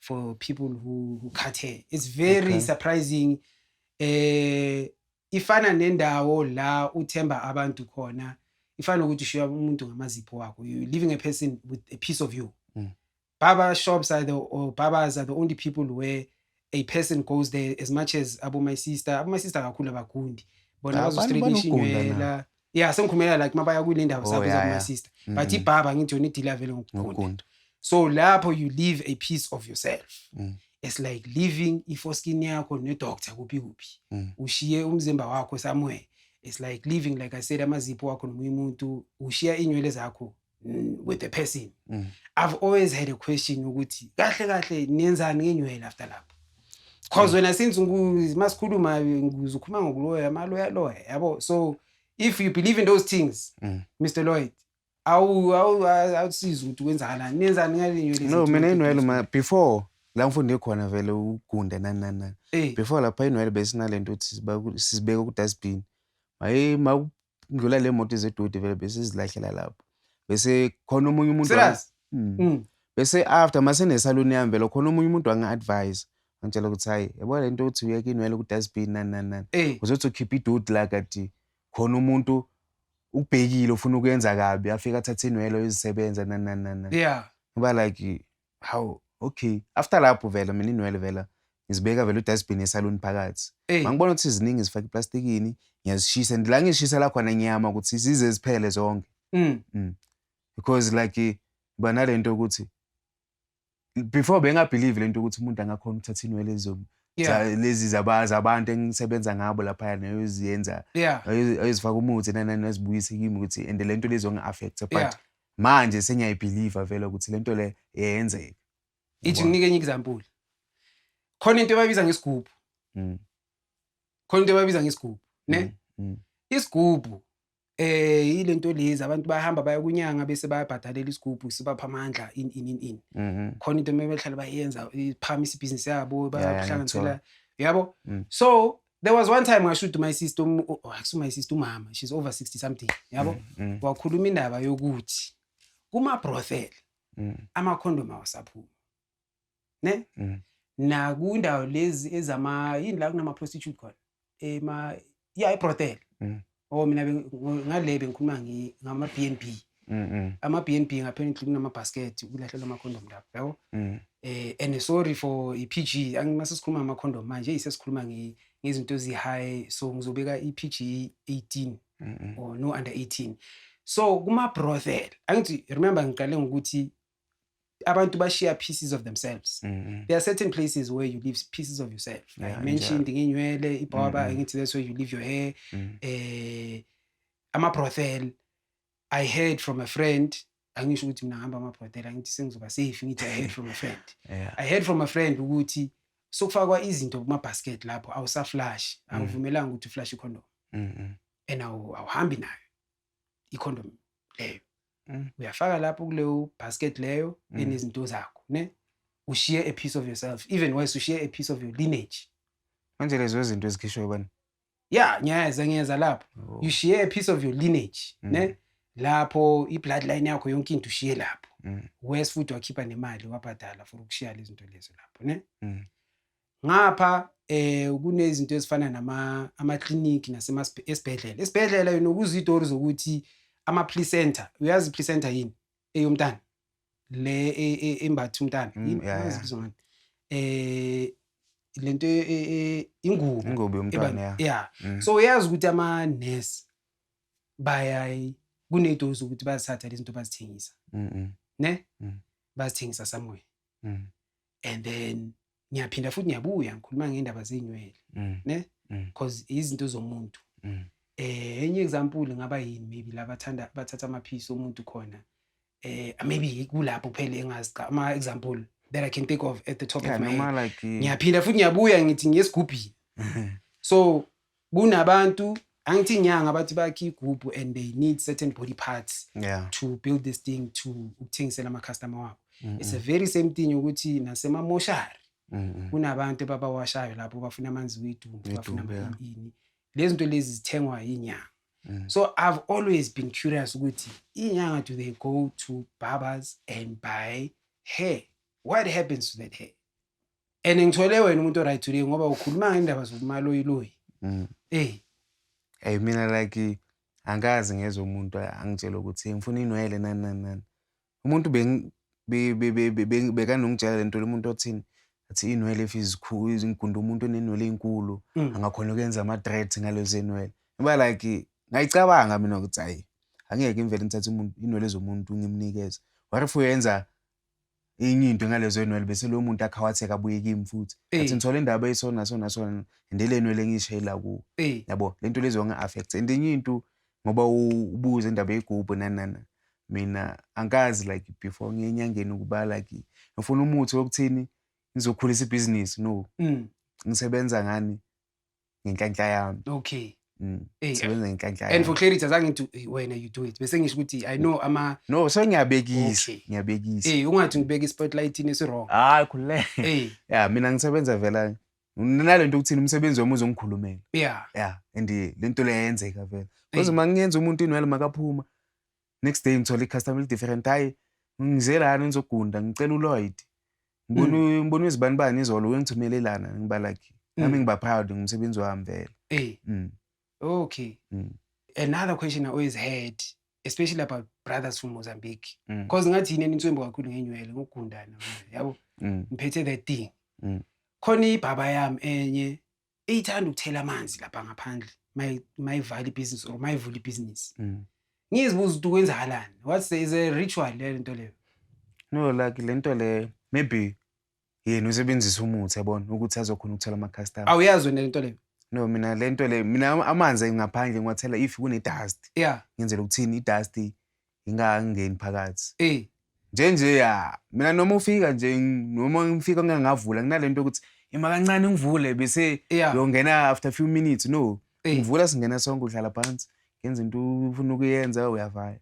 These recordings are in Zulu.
for people who, who cut hair it's very okay. surprising eh ifana nendawo la uthemba abantu khona ifana ukuthi ushiya umuntu ngamazipho wakho you leaving a person with a piece of you mm. barber shops are the or barbers are the only people where a person goes there as much as abo my sister abo my sister kakhulu abagundi bona bazostraightisha inywela ya sengikhumela like mabaya kule ndawo oh, sabiza yeah, kuma yeah. sister mm. but ibhaba ngithi yona idila vele ngokugunda so lapho you live a piece of yourself mm. it's like living ifoskin yakho nedoctor kuphi kuphi mm. ushiye umzimba wakho somewhere it's like living like i said amazipho wakho nomunye umuntu ushiya iinywele zakho mm, with a person mm. i've always had a question ukuthi kahle kahle nenzani ngenywele after lapho because wena since masikhuluma ngize ukhuluma ngokuloya amaloya loya yabo so if you believe in those things mm. mr lloyd awu awu awusiza ukuthi kwenzakalani nenzani ngalinywele no mina inwele ma before la ngifunde khona vele ugunde nani nani nani eh. before lapha inwele besinale nto ukuthi sizibeka ku dustbin maye kudlula le moto zedodi vele bese zilahlela lapho bese khona omunye umuntu Serious? Mm. Mm. bese after mase nesaluni yami vele khona omunye umuntu wanga-advise angitshela ukuthi hayi yabo le nto ukuthi uyeke inwele ku-dustbin nani nani nani Eh, uzothi ukhipha idodi la kati khona umuntu ukubhekile ufuna ukuyenza kabi afike athathe inwele uyozisebenza nani nani nani nani. yeah. ngoba like hawu okay after lapho vele mina inwele vela ngizibeka vele udustbin yesaluni phakathi Ey. mangibona ukuthi ziningi zifake eplastikini ngiyazishisa and la ngishisa la khona ngiyama ukuthi zize ziphele zonke Mm. because like ba nalento ukuthi before bengabelieve lento ukuthi umuntu angakhona ukuthatha inwele ezo- Yeah. za- lezi zaba- zabantu engisebenza ngabo laphaya neyoziyenza Yeah. ayozifaka umuthi nanani azibuyise kimi ukuthi and lento lezongi-affecta but Yeah. manje sengiyayibhiliva vele ukuthi le nto le yenzeka ithi nginike enye example khona into ebabiza ngesigubhu mm. khona into ebabiza ngesigubhu ne mm, mm. isigubhu eh ile nto lezi abantu bahamba baya kunyanga bese bayabhadalela isigubhu sibapha amandla in in in in mm-hmm. khona into emebehlala bayenza iphama isibhizinisi yabo bayakuhlanganisela yabo so there was one time ngashuthi my sister um, oh, akusu my sister umama she's over 60 something yabo mm, mm. wakhuluma indaba yokuthi kuma brothel mm. ama condom awasaphuma ne mm. na kundawo lezi ezama yini la kunama prostitute khona ema yeah i brothel mm. Oh mina be- ngo- ngale bengikhuluma ngi- ngama-B and B. Mm, mm, Ama-B and B ngapha endlini kunama-basket kulahlelwa ama-condom lapho yabo. mm. Eh and sorry for i-PG angimase sikhuluma ngama-condom manje isesikhuluma nge- ngezinto ezi-high so ngizobeka i-PG 18 Mm, mm. or no under 18. So kuma-brothel angithi remember ngiqale ngokuthi abantu bashiya pieces of themselves mm -hmm. there are certain places where you leave pieces of yourself yeah, like mentioned ngenywele ibhoba mm -hmm. ngithi that's where you leave your hair mm -hmm. eh ama-brothel i heard from a friend angisho ukuthi mina ngihamba ama-brothel angithi sengizoba safe ngithi i heard from a friend yeah. i heard from a friend ukuthi sokufakwa izinto kuma-basket lapho awusaflash mm. angivumelanga ukuthi uflash ikhondom mm -hmm. and awuhambi nayo ikhondom leyo mm. uyafaka lapho kuleyo basket leyo mm. enezinto zakho ne ushiye a piece of yourself even worse ushiye a piece of your lineage manje lezo izinto ezikhishwe bani ya ngiyeza ngiyeza lapho oh. you share a piece of your lineage mm. ne lapho i-bloodline yakho yonke into ushiye lapho mm. wes futhi wakhipha nemali wabhadala for ukushiya lezinto lezo lapho ne mm. ngapha eh kunezinto ezifana nama ama clinic nasema esibhedlela esibhedlela yona kuzitori zokuthi ama placenta uyazi placenta yini eyomntana le e, e, embathi umntana mm, yazibizwa ngani eh lento e, ingubo ingubo yomntana yeah mm. so uyazi ukuthi ama nurse bayayi kunezitori zokuthi bazithatha lezi zinto bazithengisa ne mm. bazithengisa somewhere and then ngiyaphinda futhi ngiyabuya ngikhuluma ngendaba zeinywele mm. ne mm. cause izinto zomuntu mm. eh enye example ngaba yini maybe labathanda bathatha amaphisi omuntu khona eh maybe kulapho kuphela engazi cha ama example that i can think of at the top yeah, of my head like ngiyaphinda futhi ngiyabuya ngithi ngiyesigubhini so kunabantu angithi inyanga bathi bakhe igubhu and they need certain body parts yeah. to build this thing to ukuthengisela amacustomer wabo mm -hmm. it's a very same thing ukuthi nasemamoshari mm -hmm. kunabantu babawashayo lapho bafuna amanzi wedumbu bafuna yeah. ini lezi zinto lezi zithengwa yinyanga mm. so i've always been curious ukuthi inyanga do they go to barbers and buy hair what happens to that hair and ngithole wena umuntu oright today ngoba ukhuluma ngendaba zokumaloyiloyi mm. ey hey mina like angikazi ngezwe umuntu angitshela ukuthi ngifuna inwele nani nani nani umuntu bekanongitshela le nto lomuntu othini athi inwele if izikhulu izingunda umuntu onenwele enkulu mm. angakhona ukwenza ama-dread ngalezo enwele ngoba like ngayicabanga mina ukuthi hayi angeke ngivele ngithathe inwele zomuntu ngimnikeze what if uyenza enye into ngalezo ynwele bese loyo muntu akhawatheka abuye kimi futhi athi ngithola indaba eyisona sona sona and ile nwele engiyishayela kuwo yabo le nto lezo nga-affect and enye into ngoba ubuze indaba yegubhu nanana mina angikazi like before ngiye enyangeni ukuba like ngifuna umuthi wokuthini ngizokhulisa ibhizinisi no mm. ngisebenza ngani ngenhlanhla yami okay Mm. Hey, sebenza ngenhlanhla and for clarity azange ngithi wena you do it bese ngisho ukuthi i know ama no so ngiyabekisa okay. ngiyabekisa hey ungathi ngibeka ispotlight ini sirong hayi khulule hey yeah mina ngisebenza vela nalento ukuthi umsebenzi wami uzongikhulumela yeah yeah and lento leyenzeka vela because hey. mangenza umuntu inwele makaphuma next day ngithola i-customer eli-different hhayi ngize lana ngizogunda ngicela uloyd ngibona mm. ngibona izibani bani izolo wengithumele lana ngibalakhi mm. nami ngiba proud ngomsebenzi wami vele eh mm. okay mm. another question i always had especially about brothers from mozambique because mm. ngathi yini enitswembo kakhulu ngenywele ngokugundana yabo mm. ngiphethe that thing mm. khona ibhaba yami enye iyithanda ukuthela amanzi lapha ngaphandle mayivala ibhizinisi or mayivula ibhizinisi mm. ngizibuza ukuthi kwenzakalani what is a ritual leyo nto leyo no like le nto leyo maybe yena usebenzisa umuthi yabona ukuthi azokhona ukuthola amacustomer awuyazi wena le nto leyo no mina le nto leyo mina amanzi ngaphandle ngiwathela if kune-dust yeah ngenzela ukuthini i-dust ngingangeni phakathi eh nje nje ya mina noma ufika nje noma ngifika ngingavula kunalento ukuthi ima kancane ngivule bese yongena after few minutes no eh. ngivula singena sonke uhlala phansi ngenza into ufuna ukuyenza uyavaya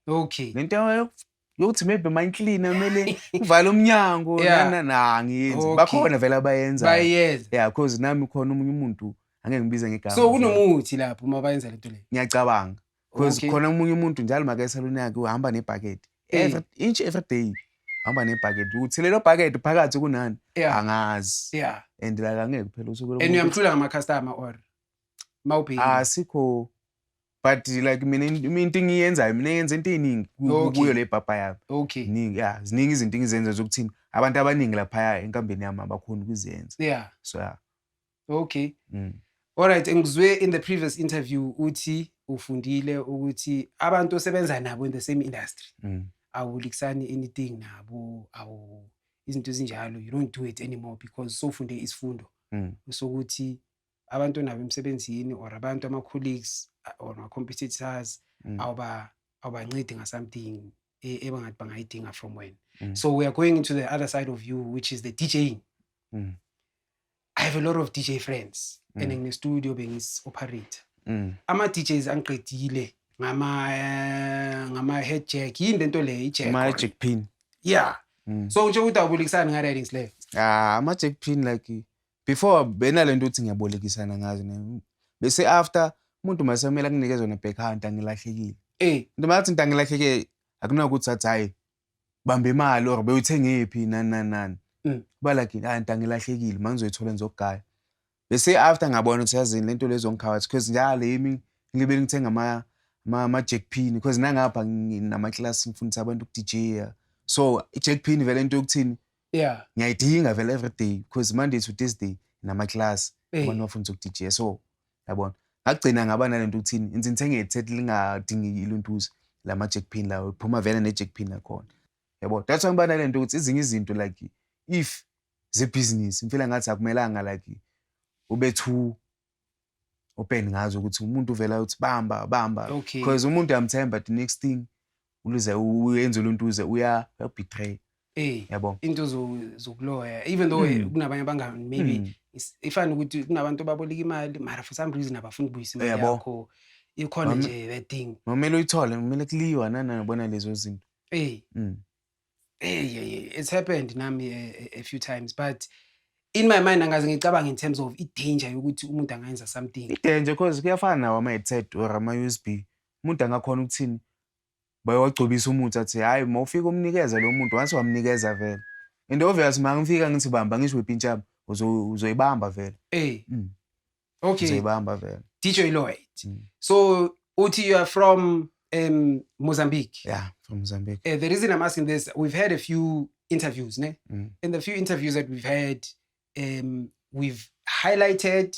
okay lento yokuthi maybe my cleaner kumele uvale umnyango nana nangiyenzi bakhona vele abayenza bayenza yeah because nami khona umunye umuntu angeke ngibize ngegama so kunomuthi lapho uma bayenza lento le ngiyacabanga because okay. khona omunye umuntu njalo maka esaluni yakhe uhamba nebhakede every inch every day hamba nebhakede ukuthi lelo bhakede phakathi kunani yeah. angazi yeah. and like angeke kuphela usuku and uyamthula ngama-customer or mawubheki asikho ah, but like mina into engiyenzayo mina yenza into eningi kuyo le bhabha yami okay ningi ya ziningi izinto engizenza zokuthini abantu abaningi laphaya enkambeni yami abakhoni ukuzenza yeah so ya yeah. Okay. Mm. Alright, ngizwe in the previous interview uthi ufundile ukuthi abantu osebenza nabo in the same industry. Mm. Awulikisani anything nabo, awu izinto ezinjalo you don't do it anymore because sofunde isifundo. Mm. Sokuthi abantu nabo emsebenzini or abantu ama colleagues or ama competitors mm. awuba awubancedi nga something e, ebangathi bangayidinga from wena. Mm. So we are going into the other side of you which is the DJing. Mm. i have a lot of dj friends mm. and nginestudio bengis-operate mm. ama-djs angiqedile ngama eh, ngama head jack yini lento le ijack ama head jack pin yeah mm. so nje ukuthi awubolekisani nga riding slave ah ama jack pin like before bena lento uthi ngiyabolekisana ngazo ne bese after umuntu mase kumele akunikeze wona back hand angilahlekile eh into mathi into angilahleke akunakuthi athi hayi bamba imali or bewuthengephi nani nani nani Mm. balakini hayi nta ngilahlekile manje ngizoyithola ngizogaya bese after ngabona ukuthi yazini lento lezongikhawathi because njalo yimi ngibe ngithenga ama ama ama jack pin because nangapha nginama class ngifundisa abantu ku DJ so i jack pin vele into yokuthini yeah ngiyayidinga vele every day because monday to thursday nama class Eh. abantu bafundisa ku DJ so yabona ngagcina ngaba nalento ukuthini inzi ngithenge iheadset lingadingi iluntuzi lama jack pin lawo phuma vele ne jack pin lakhona yabo that's why ngibana lento ukuthi izinye izinto like if ze business ngifela ngathi akumelanga like ube too open ngazo ukuthi umuntu uvela uthi bamba bamba because umuntu uyamthemba the next thing uluze uyenza uluntuze uyabetray Eh, yabo into zokuloya even though eh, hmm. kunabanye abangani maybe hmm. ifana ukuthi kunabantu ababoleka imali mara for some reason abafuni ukubuyisa imali yakho ikhona nje that thing kumele uyithole kumele kuliwa nana nobona lezo zinto hey mm. hey yeah, it's happened nami a, eh, a few times but in my mind angaze ngicabanga in terms of i-danger yokuthi umuntu angayenza something i-danger because kuyafana nawo ama-headset or ama-usb Umuntu angakhona ukuthini? Bayowagcobisa umuthi athi hhayi uma ufika umnikeza lo muntu once wamnikeza vele. And obvious uma ngifika ngithi bamba ngisho wepintshaba uzoyibamba vele. Eh. Mm. Okay. Uzoyibamba vele. DJ Lloyd. Mm. So uthi you are from um, Mozambique. Yeah, from Mozambique. Uh, the reason I'm asking this, we've had a few interviews, ne? Mm. In the few interviews that we've had, um, we've highlighted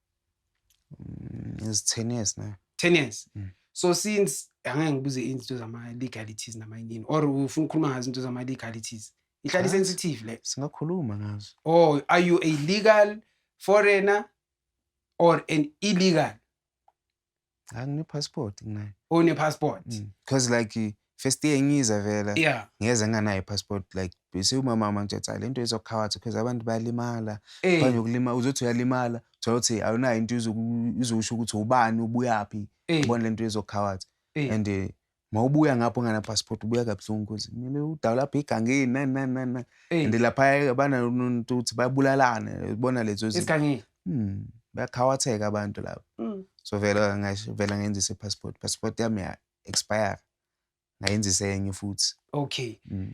Mm, is 10 years now. 10 years. Mm. So since angeke ngibuze izinto zama legalities nama yini or ufuna ukukhuluma ngazo izinto zama legalities. Ihlali sensitive le. Singakhuluma ngazo. Oh, are you a legal foreigner or an illegal? angine passport nginayo une passport mm. because like first year ngiza vela yeah. ngeze nganayo passport like siwumamama nje cha lento izokhawathi because abantu bayalimala hey. banje ukulima uzothi uyalimala thola ukuthi awunayo into izokusho ukuthi ubani ubuyaphi hey. ubona lento izokhawathi hey. and uh, ma ubuya ngapho ungana passport ubuya kabuhlungu cause kumele udawu lapho igangeni nani nani nani nani Eyi. and laphaya banantu ukuthi babulalane ubona lezo zinto Isigangile. Hmm, bayakhawatheka abantu labo Mm. so vele ngasho vele ngayenzisa i-passport passport yami ya expire ngayenzisa enye futhi Okay. Mm.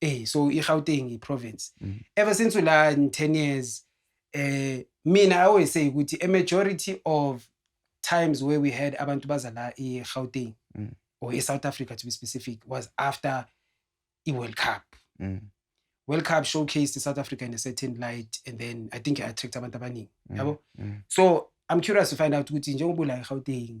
eh so iGauteng iprovince mm. ever since ula in 10 years eh mina i always say ukuthi a majority of times where we had abantu baza la iGauteng mm. or eSouth Africa to be specific was after iWorld Cup mm. World Cup showcased South Africa in a certain light and then I think it attract abantu abaningi mm. yabo mm. so i'm curious to find out ukuthi njengoba ula eGauteng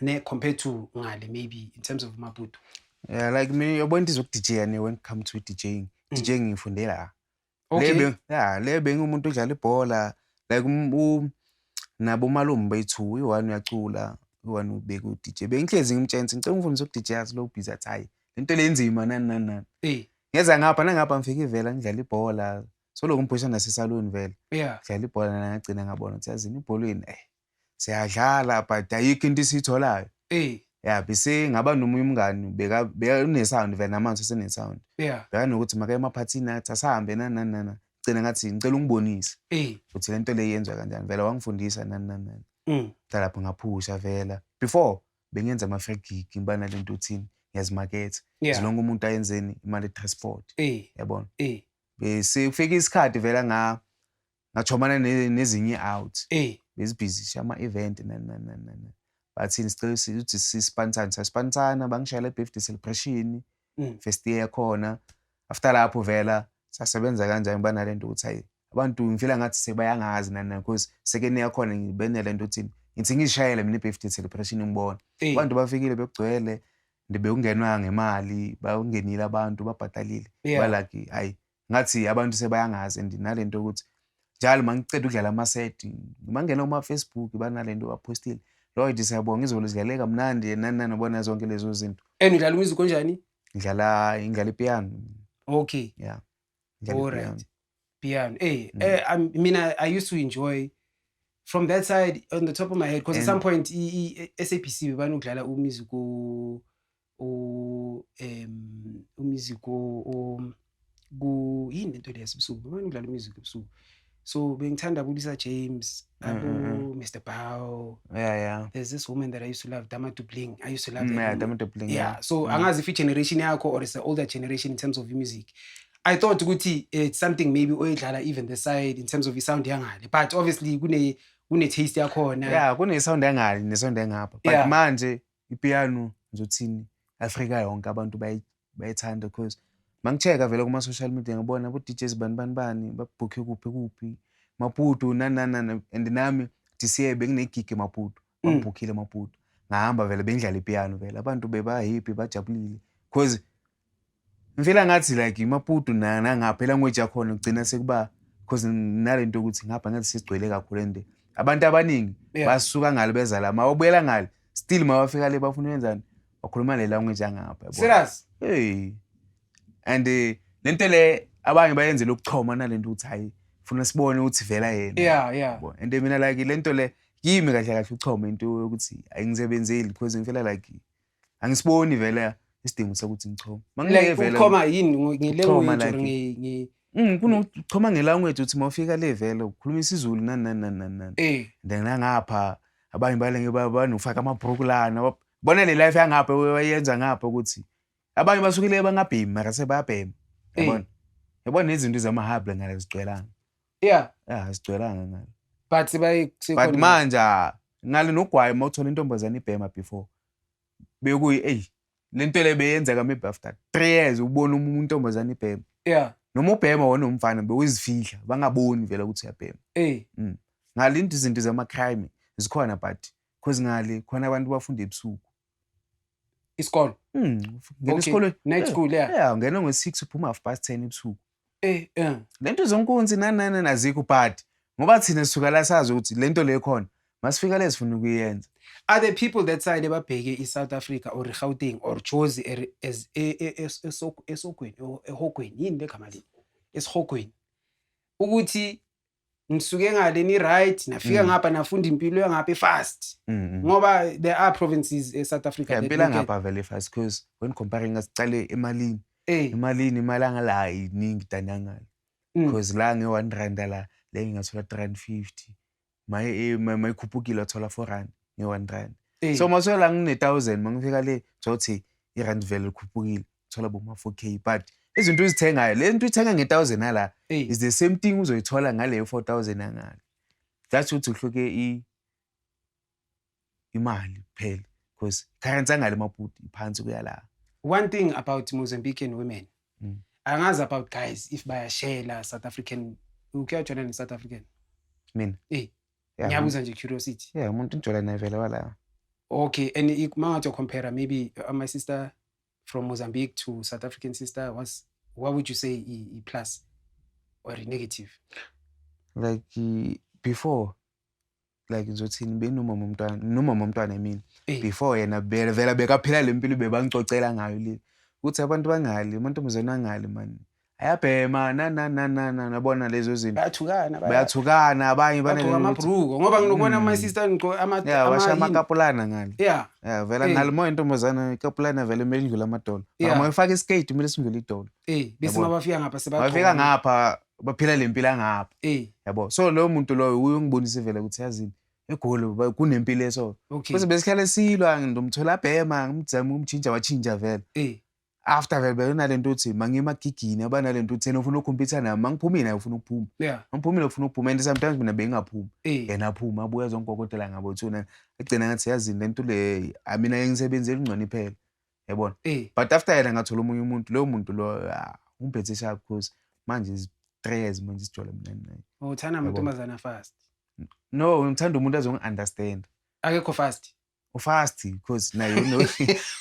ne compared to ngale maybe in terms of maputo yeah like mina yabona into izokudija ne when it come to DJing mm. DJing ngifunde la okay. lebe yeah lebe ngumuntu odlala ibhola like um, um, nabo malume bethu uyi-one uyacula uyi-one ubeka u-dj bengihlezi ngimtshenisa ngicela ungifundisa uku-dj yazi lo ubhizi athi hhayi le nto lenzima nani nani nani eh. ngeza ngapha nangapha ngifike ivela ngidlala ibhola soloku ngiphusha nasesaloni vele ngidlala ibhola nangagcina ngabona ukuthi yazini ibholweni eh siyadlala but ayikho into isiyitholayo eh ya bese ngaba nomunye umngani beka bekunesound vele namanzi asenesound yeah bekanokuthi makaye emaphathini athi asahambe nani nani nani gcina ngathi ngicela ungibonise eh ukuthi le nto le yenziwa kanjani vele wangifundisa nani nani nani mm talapho ngaphusha vela before bengenza ama-free gig ngiba nale nto uthini ngiyazimaketha yeah zilonke umuntu ayenzeni imali transport eh yabona eh bese kufika isikhathi vela nga ngachomana nezinye out eh bezibhizi shama event nani nani nani bathini sicela ukuthi sispansane saspansana bangishayela birthday celebration mm. first year yakhona after lapho vela sasebenza kanjani banalento ukuthi hayi abantu ngifila ngathi sebayangazi nani nani because sekeni yakhona ngibenele into ukuthi ngithi ngishayele mina birthday celebration ngibona abantu bafikile bekugcwele ndibekungenwa ngemali bakungenile abantu babhatalile balaki hayi ngathi abantu sebayangazi and nalento ukuthi njalo mangiceda ukudlala ama-set mangena kuma-facebook banalento baphostile lloyd siyabonga izolo zidlaleka mnandi nani nani ubona zonke lezo zinto and udlala umusic onjani ngidlala ngidlala ipiano okay yeah alright piano hey mm. eh, um, i mean I, i used to enjoy from that side on the top of my head because at some point i-sabc bebanokudlala umusic u em umusic o ku yini lento le yasebusuku bani udlala umusic ebusuku so bengithanda kulisa James Mm, abo mm, mm. Mr Bow yeah yeah there's this woman that I used to love Dama Dubling I used to love Mm, that yeah woman. Dama Dubling yeah so Mm. angazi if i-generation yakho or it's the older generation in terms of music i thought ukuthi it's something maybe oyidlala even the side in terms of i-sound yangale but obviously kune kune-taste yakhona yeah kune sound engale ne sound engapha but Yeah. manje ipiano ngizothini afrika yonke abantu bayithanda because mangicheka vele kuma-social media ngibona bo-djs bani bani bani babhukhe kuphi kuphi maputo nananana and nami dca benginegigi emaputo mm. bangibhukhile emaputo ngahamba vele bengidlala ipiano vele abantu bebahappy bajabulile because ngifela ngathi like imaputo nangapha elanguage yakhona kugcina sekuba because nale nto yokuthi ngapha ngathi sesigcwele kakhulu and abantu abaningi basuka ngalo beza la mawabuyela ngale still mawafika le bafuna ukwenzani wakhuluma le language yangapha serious hey and eh, le nto le abanye bayenzela ukuchoma nale nto ukuthi hayi funa sibone ukuthi vela yena yeah yeah and eh, mina like le nto le kimi kahle kahle uchoma into yokuthi ayingisebenzeli because ngifela like angisiboni vele isidingo sokuthi ngichome mangileke vele uchoma yini ngelanguage or ngi mm, kunochoma ngelanguage uthi mawufika le vele ukhuluma isizulu nani nani nani nani nani eh then ngapha abanye balenge banofaka amabhuruku lana bona le life yangapha wayenza ngapha ukuthi abanye basukile bangabhemi mara sebayabhema yabona yabona nezinto zamahable ngale zigcwelanga yeah yeah asigcwelanga ngalo but bayi but manje ah, ngale nogwayi uma uthola intombazane ibhema before bekuyi eyi le nto le beyenzeka maybe after three years ubona uma intombazane ibhema yeah noma ubhema wona umfana bewuzifihla bangaboni vele ukuthi uyabhema eh mm. ngale into izinto zamacrime zikhona but because ngale khona abantu bafunda ebusuku isikolo mm ngena isikolo night eh, school yeah yeah ngena ngo 6 uphuma half past 10 ebusuku Eh, eh. Lento zonkunzi nanana nazikho but ngoba thina sisuka la sazi ukuthi lento le khona masifika le sifuna ukuyenza. Are the people that side ebabheke iSouth Africa or Gauteng or Jozi er- as e- e- es- esok- esokweni or ehogweni yini legama leli esihogweni ukuthi ngisuke ngale ni right nafika mm. ngapha nafunda impilo yangapha fast mm, mm. ngoba there are provinces e South Africa yeah, impilo ngapha vele fast because when comparing ngasiqale emalini hey. Eh. emalini imali angala iningi danangala because mm. la nge 1 rand la le ngathola 350 my eh, my khuphukile athola 4 rand nge 1 rand hey. Eh. so masola ngine 1000 mangifika le thothi irand vele likhuphukile thola boma 4k but izinto uzithengayo le nto uyithenga nge-thousand ala is the same thing uzoyithola ngaleyo four thousand angale that's ukuthi uhluke imali kuphela because currency angale maputi iphansi kuya la one thing about mozambican women mm. angazi about guys if bayashela south african ukuyajona ne-south african mina eh ngiyabuza nje curiosity yeah umuntu ngijola naye vele walayo okay and mangathi compare maybe uh, my sister from Mozambique to South African sister was what would you say e, plus or a negative? Like before like ngizothini benomama umntwana nomama umntwana i mean hey. before yena vele vela bekaphila le mpilo bebangicocela ngayo le ukuthi abantu bangali amantombazane angali mani ayabhema nanananana nabona lezo zinto bayathukana baya- bayathukana abanye bagqoka banelutho amabhruko ngoba nginokubona Mm. ama sister ngigqoka ama ya ama- washa yini. amakapulana ngale yeah ya vela Eh. ngale moya intombazana ikapulana vele kumele indlule amadolo Yeah. mara moyifaka iskate kumele sindlule idolo eh bese Yabona. mabafika ngapha sebagqoka bafika ngapha baphila le mpilo angapha eh yabo so loyo muntu loyo uye ungibonise vele ukuthi yazini egoli ba- kunempilo eso okay bese besihlale silwa ndomthola abhema ngimzama ukumtshintsha watshintsha vele eh after vele beyona le nto uthi mangiye emagigini abanalento uthena ufuna ukhompyutha nami mangiphumile naye ufuna ukuphuma yeah. mangiphumile ufuna ukuphuma and sometimes mina bengingaphumi eh. yena aphuma abuya zongikokotela ngabo thuna agcina ngathi yazini le nto le ah, mina yengisebenzi elingcwane iphela yabona eh. but after yena ngathola omunye umuntu loyo muntu lo ah, umphethe sharp because manje izitrez manje isijole mina naye oh, uthanda amantombazana fast no ngithanda umuntu azongi-understand akekho fast ufast because naye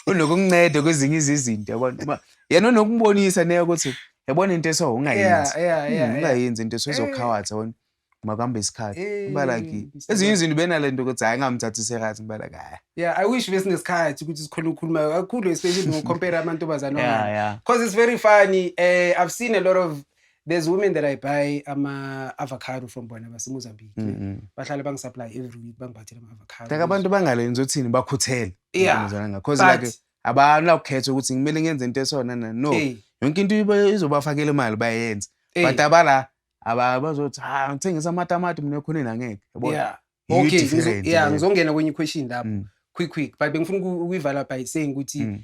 unokumnceda kwezinye izizinto yabona yena unokubonisa naye ukuthi yabona into eso ungayenzi hmm, ungayenzi into eso izokhawathi yabona makuhamba isikhathi eh, uba like ezinye izinto benale nto ukuthi hhayi ngamthathi serious uba like hhayi yeah i wish besinesikhathi ukuthi sikhona ukukhuluma kakhulu especially ngocompare amantombazane yeah, yeah. cause it's very funny uh, i've seen a lot of there's women that i buy ama-avocado from bona basemozambique mm -hmm. bahlale bangisapply every week bangiphathele ama-avocado like abantu bangalenzi uthini bakhuthele yeah. cause But, like abanakukhetha ukuthi ngimele ngenze into esona na no hey. yonke into izobafakela imali bayenze hey. but abala abazothi ha ngithengisa amatamati mina ekhoneni angeke yabona yeah. okay yeah ngizongena kwenye question lapho mm. quick quick but bengifuna ukuyivala by saying ukuthi mm.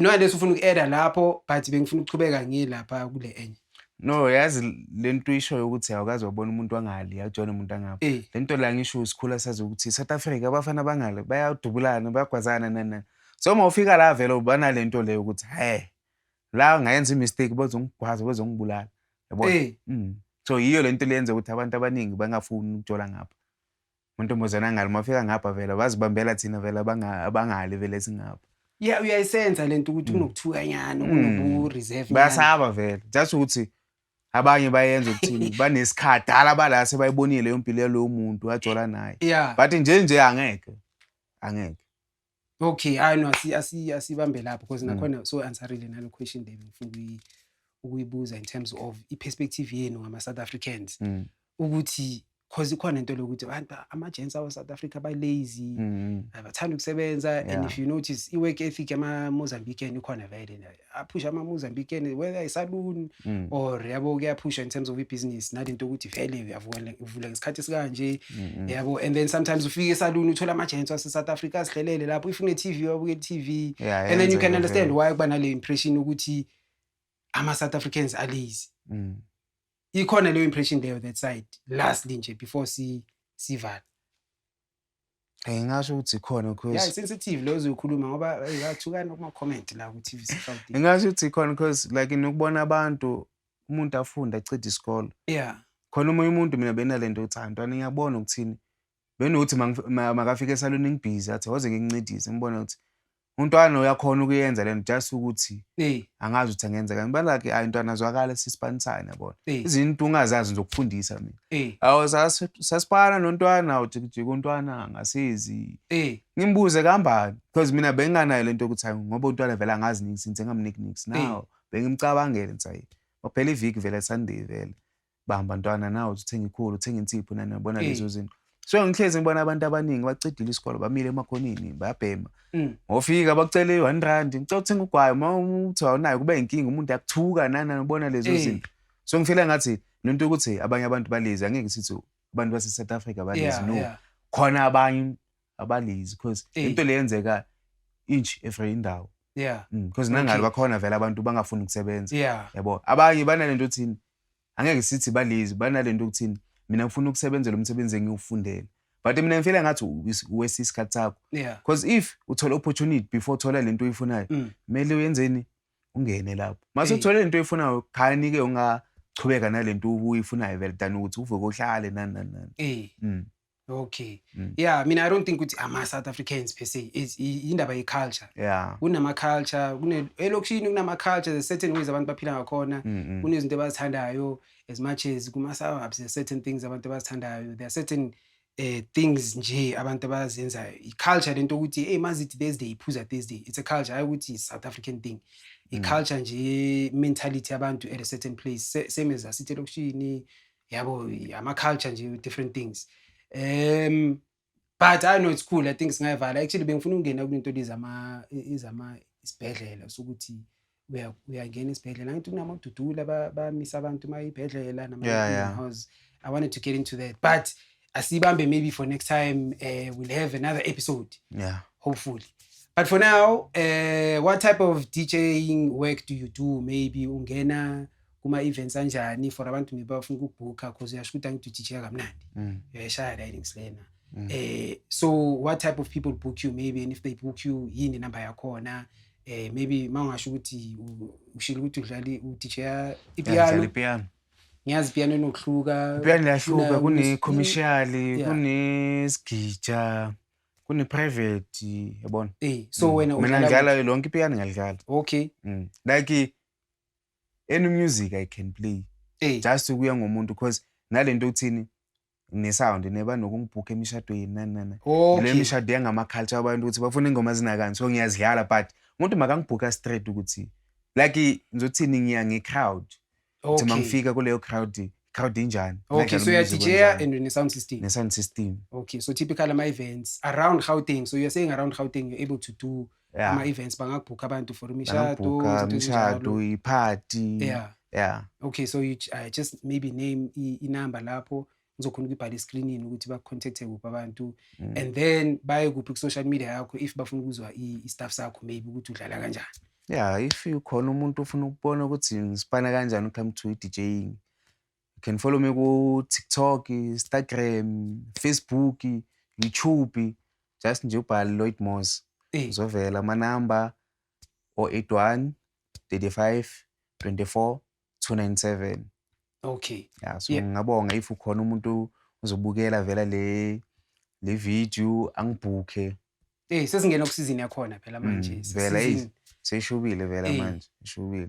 no unless ufuna uku-eda lapho but bengifuna ukuchubeka ngilapha kule enye no yazi le nto uyishoyo ukuthi awukazi wabona umuntu wangale awujona umuntu angapha eh. le nto la ngisho sikhula sazi ukuthi south africa abafana bangale bayadubulana bayagwazana nanani so uma ufika la vele ubana le nto leyo ukuthi he la ngayenza imistake bazongigwaza bazongibulala yabona eh. mm. so yiyo le nto leyenza ukuthi abantu abaningi bangafuni ukujola ngapha Muntombazana ngalo mafika ngapha vela bazibambela thina vela abangali vele singapha. Yeah uyayisenza lento ukuthi mm. kunokuthukanyana mm. kunoku reserve. Bayasaba vele. Just ukuthi abanye bayenza ukuthini banesikhathi dala bala sebayibonile leyo mpilo yalowo muntu wajola naye. But nje nje angeke. Angeke. Okay, hayi no asi asi asibambe lapho because mm. nakhona so answerile nalo question le ngifuna ukuyibuza in terms of i perspective yenu ngama South Africans mm. ukuthi cause ikhona into lokuthi abantu ama gents awa South Africa ba lazy mm. abathanda ukusebenza and if you notice i work ethic ama Mozambican ikhona vele aphushe ama-mozambique and whether isaluni mm. or yabo kuyaphusha in terms of ibhizinisi nale nto yokuthi vele uyavula ngesikhathi esikanje mm-hmm. yabo and then sometimes ufike esaluni uthole ama-agents wase-south africa azihlelele lapho if une-tv wabuke i-tv and then you can understand why kuba nale impression ukuthi ama-south africans alazy mm. ikhona leyo impression leyo that side lastly nje before sivala Ngingasho ukuthi ikhona because Yeah, sensitive leyo zoyikhuluma ngoba hey, bathukana kuma comment la ku TV South. ngingasho ukuthi ikhona because like nokubona abantu umuntu afunde acede isikole Yeah. khona omunye umuntu mina benalento ukuthi hayi ntwana ngiyabona ukuthini benokuthi mangif- ma- makafike esaloni ngibhizi athi waze ngingincedise ngibona ukuthi Untwana uyakhona ukuyenza lento just ukuthi angazi ukuthi angenzeka ngibalake ayi ntwana azwakale sisipanisane yabona izinto ungazazi ngizokufundisa mina awu sasipana nontwana awujikijika untwana ngasizi ngimbuze kambani because mina benginganayo lento yokuthi hayi ngoba untwana vele angazi nix ngithi engamniki nix now bengimcabangele ngithi hayi phela iviki vele sunday vele bamba ntwana nawe uthenga ikhulu uthenga insipho nani yabona mm. lezo zinto so ngihlezi ngibona abantu abaningi bacidile isikole bamile emakhonini bayabhema mm. ngofika bakucele i-one rand ngicela uthenga ugwayo uma uthi awunayo kube inkinga umuntu akuthuka nana ubona lezo mm. zinto so ngifile ngathi le nto ukuthi abanye abantu balezi angeke sithi abantu base-south africa balezi no khona abanye abalezi because into le yenzeka inch every indawo yeah because nangalo bakhona vele abantu bangafuni ukusebenza yabo abanye banale nto othini angeke sithi balezi banalento ukuthini mina ngifuna ukusebenzela umsebenzi engiwufundele but mina ngifela ngathi uwesi isikhathi sakho because if uthola opportunity before uthola lento oyifunayo mm. kumele uyenzeni ungene lapho mase uthole lento oyifunayo khani ke ungachubeka nalento uyifunayo vele than ukuthi uvuke uhlale nani nani nani mm. okay mm. yeah mina i don't think ukuthi ama-south africans per se yindaba ye-culture yeah. kunama-culture elokishini kunama-culture the certain ways abantu baphila ngakhona mm -hmm. kunezinto abazithandayo as much as kuma-suburbs there certain things abantu abazithandayo there are certain eh things nje abantu abazenzayo i-culture lento ukuthi hey mazithi thursday iphuza thursday it's a culture hayi ukuthi south african thing i-culture mm. nje mentality yabantu at a certain place same as asithi elokishini yabo ama culture nje different things um but i know it's cool i think singayivala actually bengifuna ukungena kulento lizama izama isibhedlela sokuthi uyangena isibhedlela ngithi kunamadudula bamisa abantu uma ibhedlela namahouse i wanted to get into that but asiyibambe maybe for next time uh, we'll have another episode yeah hopefully but for now uh, what type of djing work do you do maybe ungena kuma-events anjani for abantu maybe bafuna ukubhukha cause uyasho ukuthi angithi udj kamnandi mm. uyayishaya la innings lena mm. eh, so what type of people book you maybe and if they book you yini number yakhona eh, maybe ma ungasho ukuthi ushile ukuthi udlala udj ipiano ngiyazi piano inokuhluka piano liyahluka kune-commercial kunesigija kune-private yabona eh, so mm. wena mina ngidlala lonke ipiano ngiyalidlala okay mm. like any music i can play eh. just kuya ngomuntu because nale nto okuthini nginesound neba nokungibhukha emishadweni nani nani okay. le mishado yangama-culture abantu ukuthi bafuna ingoma zinakani so ngiyazidlala but umuntu makangibhukha straight ukuthi like ngizothini ngiya nge-crowd okay. ukuthi mangifika kuleyo crowd crowd injani okay so uyadija and ne-sound system ne-sound system okay so typical ama-events around gauteng so you're saying around gauteng you're able to do Yeah. ama-events bangakubhukha abantu for imishado Bangabhukha izinto ezinjalo. imishado, iphathi. yeah Yeah. okay so you, uh, just maybe name i- inamba lapho ngizokhona ukuyibhala escreenini ukuthi bakucontacte kuphi abantu Mm. and then baye kuphi ku-social media yakho if bafuna ukuzwa i- i-staff sakho maybe ukuthi udlala kanjani Yeah, if ukhona umuntu ofuna ukubona ukuthi ngisipana kanjani u-come to i-DJing, You can follow me ku TikTok, Instagram, Facebook, YouTube. Just nje ubhale Lloyd Moss. Eh. Uzovela ama number 081 35 24 297. Okay. Yeah, so yeah. ngingabonga if ukhona umuntu uzobukela vela le le video angibhukhe. Eh sesingena okusizini yakhona phela manje. Mm, vela seyishubile vela eh. manje, ishubile.